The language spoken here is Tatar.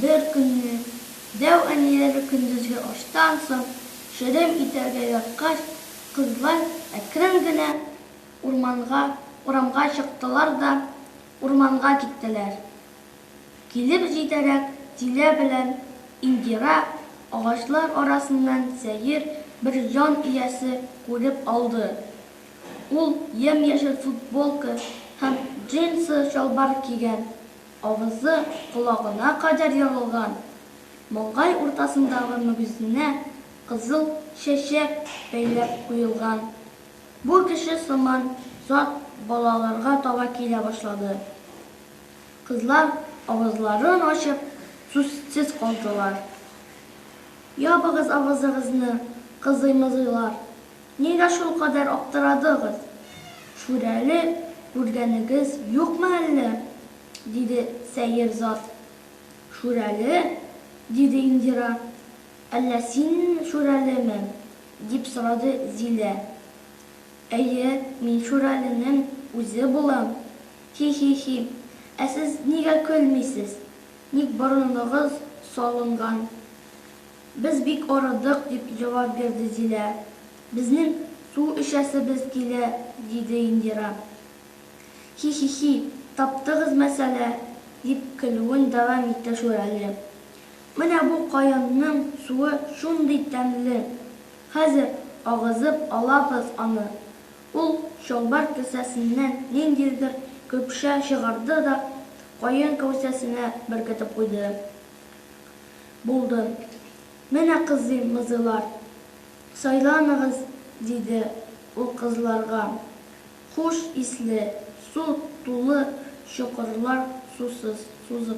Беркөнне дәү әниләре көндезге аштан соң черем итәргә яткач, кызлар әкрен генә урманга, урамга чыктылар да урманга киттеләр. Килеп җитәрәк, Дилә белән Индира агачлар арасыннан сәер бер җан иясе күреп алды. Ул ямь-яшел футболка һәм джинсы чалбар кигән, авызы колагына кадәр ягылган, маңгай уртасындагы мөгезенә кызыл чәчәк бәйләп куелган бу кеше сыман зат балаларга таба килә башлады. Кызлар авызларын ачып сүзсез калдылар. Ябыгыз авызыгызны, кызыймызыйлар, нигә шулкадәр аптырадыгыз? Шүрәле күргәнегез юкмы әллә? диде сәер зат. Шүрәле? диде Индира. Әллә син Шүрәлеме? дип сорады Зилә. Әйе, мин Шүрәленең үзе булам. Хи-хи-хи. Ә сез нигә көлмисез? Ник борыныгыз салынган? Без бик арыдык, дип җавап бирде Зилә. Безнең су эчәсебез килә, диде Индира. Хи-хи-хи, таптыгыз мәсьәлә, дип көлүен дәвам итте Шүрәле. Менә бу каенның суы шундый тәмле. Хәзер агызып алабыз аны. Ул чалбар кесәсеннән ниндидер көпшә чыгарды да каен кәүсәсенә беркетеп куйды. Булды. Менә кызыйм, мызыйлар. Сайланыгыз, диде ул кызларга. Хуш исле, су тулы чокырлар сусыз, сузып.